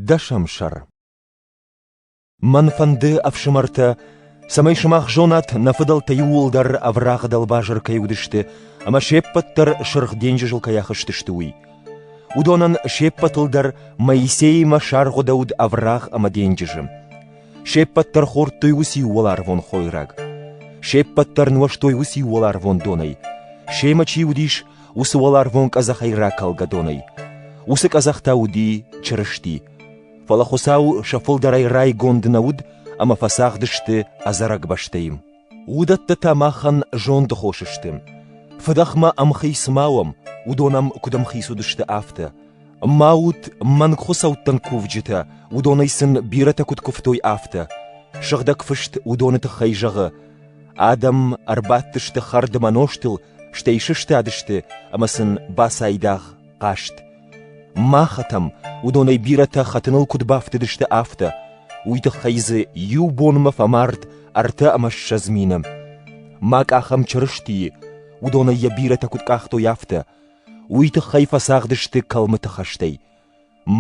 Дӕсӕм сӕр Мӕн фӕнды, ӕфсымӕртӕ, цӕмӕй сымах зонат, нӕ фыдӕлтӕ иууылдӕр ӕврагъы дӕлбазыр кӕй уыдысты ӕмӕ се ппӕт дӕр Сырх денджызыл кӕй ахызтысты, уый. Уыдонӕн се ппӕтыл дӕр Моисеимӕ саргъуыдӕуыд ӕврагъ ӕмӕ денджызы. Се ппӕт дӕр хордтой уыцы иу уӕларвон хойраг. Се ппӕт дӕр нуӕзтой уыцы иу уӕларвон донӕй. Семӕ чи уыдис, уыцы уӕларвон къӕдзӕхӕй ракалгӕ донӕй. Уыцы къӕдзӕх та уыди Чырысти. Фӕлӕ Хуыцау сӕ фылдӕрӕй райгонд нӕ уыд ӕмӕ фӕцагъд сты ӕдзӕрӕг бӕстӕйы. Уыдӕттӕ та махӕн зондхос сты. Фыдӕхмӕ ӕмхиц ма уӕм, уыдон ӕм куыд ӕмхиц уыдысты, афтӕ. Ма ут мӕнг хуыцӕуттӕн кувджытӕ, уыдонӕй сын бирӕтӕ куыд куывтой, афтӕ. Сыгъдӕг Фыст уыдоны тыххӕй зӕгъы: «Адӕм ӕрбадтысты хӕрдмӕ нозтыл стӕй сыстадысты ӕмӕ сын бацайдагъ хъаст. Махӕтӕм уыдонӕй бирӕтӕ хӕтыныл куыд бафтыдысты, афтӕ. Уый тыххӕй дзы иу бонмӕ фӕмард ӕртӕ ӕмӕ ссӕдз мины. Ма къахӕм Чырыстийы, уыдонӕй йӕ бирӕтӕ куыд къахтой, афтӕ. Уый тыххӕй фӕцагъдысты кӕлмыты хӕстӕй.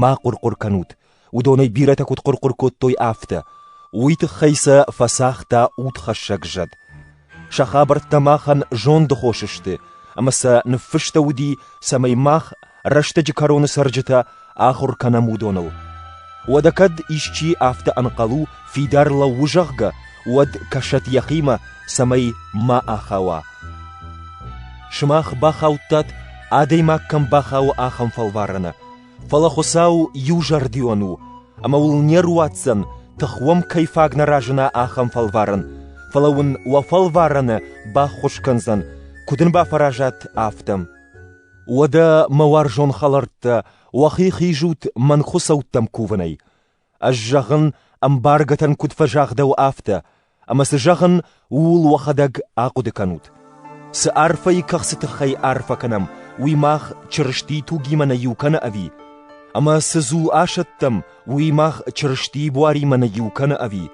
Ма хъуыр-хъуыр кӕнут, уыдонӕй бирӕтӕ куыд хъуыр-хъуыр кодтой, афтӕ. Уый тыххӕй сӕ фӕцагъта удхӕссӕг зӕд. Сӕ хабӕрттӕ махӕн зонды хос сты, ӕмӕ сӕ ныффыста уыди, цӕмӕй мах, рӕстӕджы кӕроны цӕрджытӕ, ахуыр кӕнӕм уыдоныл. Уӕдӕ кӕд исчи афтӕ ӕнхъӕл у, фидар лӕуу, зӕгъгӕ, уӕд кӕсӕд йӕхимӕ, цӕмӕй ма ахауа. Сымах бахаудтат, адӕймаг кӕм бахауы, ахӕм фӕлварӕны. Фӕлӕ Хуыцау иузӕрдион у, ӕмӕ уыл не руадздзӕн, тых уӕм кӕй фаг нӕ разына, ахӕм фӕлварӕн, фӕлӕ уын уӕ фӕлварӕны баххуыс кӕндзӕн, куыд ын бафӕразат, афтӕ. Уӕдӕ, мӕ уарзон хӕлӕрттӕ, уӕхи хизут мӕн хуыцӕуттӕм кувынӕй. Ӕз зӕгъын, ӕмбаргӕтӕн куыд фӕзагъдӕуы, афтӕ, ӕмӕ цы зӕгъын, ууыл уӕхӕдӕг ахъуыды кӕнут. Цы арфӕйы кӕхцы тыххӕй арфӕ кӕнӕм, уый мах Чырыстийы тугимӕ нӕ иу кӕны ӕви? Ӕмӕ цы дзул асӕттӕм, уый мах Чырыстийы буаримӕ нӕ иу кӕны ӕви?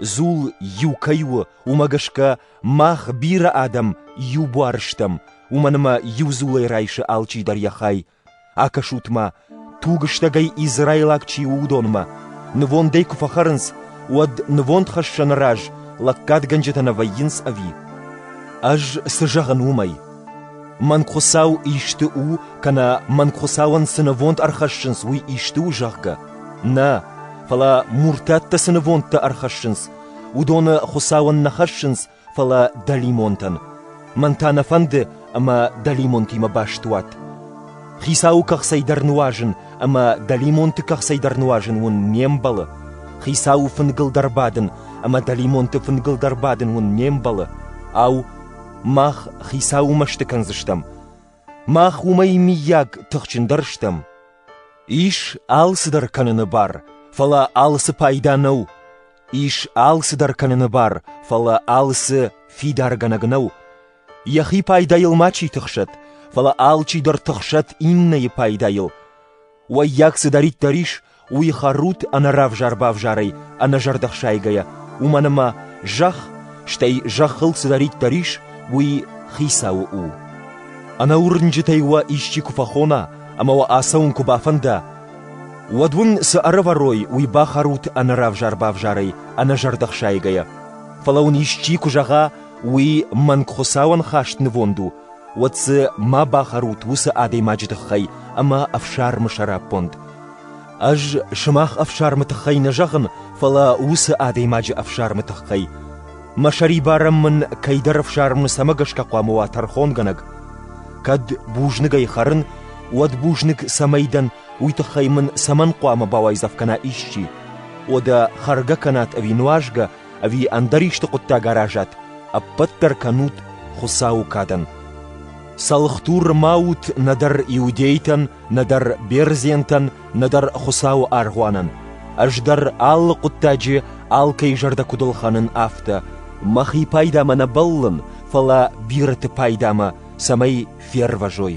Дзул иу кӕй у, уымӕ гӕсгӕ мах бирӕ адӕм иу буар стӕм, уымӕн ӕмӕ иу дзулӕй райсы алчи дӕр йӕ хай, Акӕсут-ма, тугыстӕгӕй израилаг чи у, уыдонмӕ. Нывондӕй куы фӕхӕрынц, уӕд нывондхӕссӕны раз лӕггадгӕнджытӕ нӕ вӕййынц ӕви? Ӕз цы зӕгъын уымӕй? Мӕн Хуыцау исты у, кӕнӕ мӕн Хуыцауӕн цы нывонд ӕрхӕссынц, уый исты у, зӕгъгӕ? Нӕ, фӕлӕ муртӕттӕ цы нывондтӕ ӕрхӕссынц, уыдоны Хуыцауӕн нӕ хӕссынц фӕлӕ дӕлимонтӕн. Мӕн та нӕ фӕнды, ӕмӕ дӕлимонтимӕ баст уат. Хицауы кӕхцӕй дӕр нуазын ӕмӕ дӕлимонты кӕхцӕй дӕр нуазын уын не мбӕлы. Хицауы фынгыл дӕр бадын ӕмӕ дӕлимонты фынгыл дӕр бадын уын не мбӕлы. Ау, мах Хицауы мӕсты кӕндзыстӕм? Мах уымӕй миййаг тыхджындӕр стӕм? Ис алцыдӕр кӕныны бар, фӕлӕ алцы пайда нӕу. Ис алцыдӕр кӕныны бар, фӕлӕ алцы фидаргӕнӕг нӕу. Йӕхи пайдайыл ма чи тыхсӕд, фӕлӕ алчидӕр тыхсӕд иннӕйы пайдайыл. Уаййаг цыдӕриддӕр ис, уый хӕрут ӕнӕравзар-бавзарӕй, ӕнӕзӕрдӕхсайгӕйӕ, уымӕн ӕмӕ зӕхх, стӕй зӕххыл цыдӕриддӕр ис, уый хицауы у. Ӕнӕуырнджытӕй уӕ исчи куы фӕхона ӕмӕ уӕ ацӕуын куы бафӕнда, Уӕд уын цы ӕрӕвӕрой, уый бахӕрут ӕнӕравзар-бавзарӕй, ӕнӕзӕрдӕхсайгӕйӕ. Фӕлӕ уын исчи куы зӕгъа, уый мӕнг Хуыцауӕн хаст нывонд у, уӕд дзы ма бахӕрут уыцы адӕймаджы тыххӕй ӕмӕ ӕфсӕрмы сӕраппонд. Ӕз сымах ӕфсӕрмы тыххӕй нӕ зӕгъын, фӕлӕ уыцы адӕймаджы ӕфсӕрмы тыххӕй. Мӕ сӕрибарӕн мын кӕйдӕр ӕфсармы цӕмӕ гӕсгӕ хъуамӕ уа тӕрхонгӕнӕг? Кӕд бузныгӕй хӕрын, уӕд бузныг цӕмӕй дӕн, уый тыххӕй мын цӕмӕн хъуамӕ бауайдзӕф кӕна исчи? О, дӕ хӕргӕ кӕнат ӕви нуазгӕ, ӕви ӕндӕр исты хъуыддаг аразат, ӕппӕт дӕр кӕнут Хуыцауы кадӕн. Цӕлхдур ма ут нӕдӕр иудейтӕн, нӕдӕр бердзентӕн, нӕдӕр Хуыцауы аргъуанӕн. Ӕз дӕр алы хъуыддаджы алкӕй зӕрдӕ куыд ӕлхӕнын, афтӕ. Мӕхи пайдамӕ нӕ бӕллын, фӕлӕ бирӕты пайдамӕ, цӕмӕй фервӕзой.